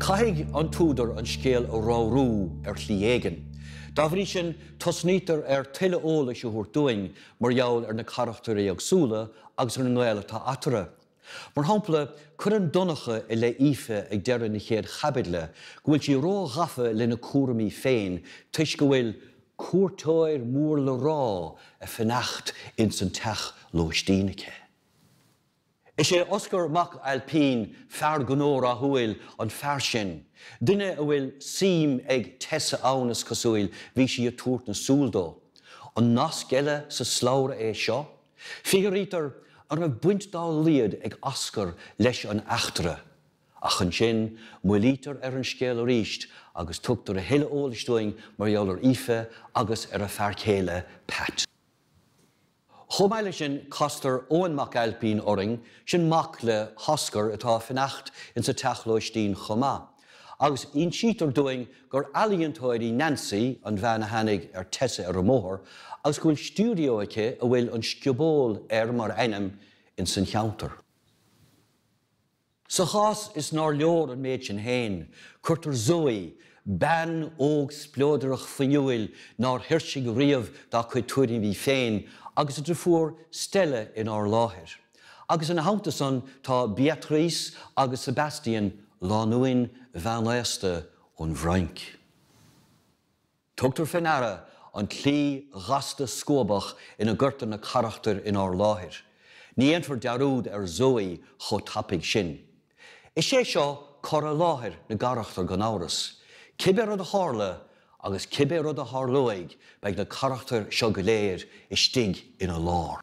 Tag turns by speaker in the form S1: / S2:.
S1: Caithfidh an t-údar an scéal a ramhrú ar shlí éigin. Dá bhrí sin, tosnaítear ar tuilleadh eolais a thabhairt dúinn mar gheall ar na carachtair éagsúla agus ar an ngaol atá eatarthu. Mar shampla, cuireann Donncha i leith Aoife ag deireadh na chéad chaibidle go bhfuil sí ró-ghafa lena cúraimí féin toisc go bhfuil cuairteoir mór le rá ag fanacht ins an teach lóistín aici. Is é Oscar Mac Ailpín, fear gnó rathúil, an fear sin, duine a bhfuil suim ag Tessa ann, is cosúil, bhí sí ag tabhairt na súl dó. An nasc eile sa slabhra é seo? Fiafraítear an raibh baint dá laghad ag Oscar leis an eachtra, ach ansin moillítear ar an scéal arís agus tugtar a thuilleadh eolais dúinn mar gheall ar Aoife agus ar a fear céile Pat. Chomh maith leis sin castar Eoin Mac Ailpín orainn, sin mac le hOscar atá ag fanacht insa teach lóistín chomh maith. agus insítear dúinn gur ealaíontóir í Nancy, an bhean a tháinig ar Tessa ar an mbóthar, agus go bhfuil stiúideo aici a bhfuil 'An Scioból' air mar ainm ins an cheantar. Sa chás is nár leor an méid sin féin, cuirtear Zoe, bean óg spleodrach fuinniúil nár thuirsigh riamh dá cuid tuairimí féin agus a driofúr Stella inár láthair. Agus ina theannta san tá Beatrice agus Sebastian, lánúin mheánaosta ón bhFrainc. Tugtar fé ndeara an tslí ghasta scuabach ina gcuirtear na carachtair inár láthair, ní dhéanfar dearúd ar Zoë chomh tapaidh sin. Is é seo cur i láthair na gcarachtar gan amhras, cibé rud a tharla agus cibé rud a tharlóidh beidh na carachtair seo go léir istigh ina lár.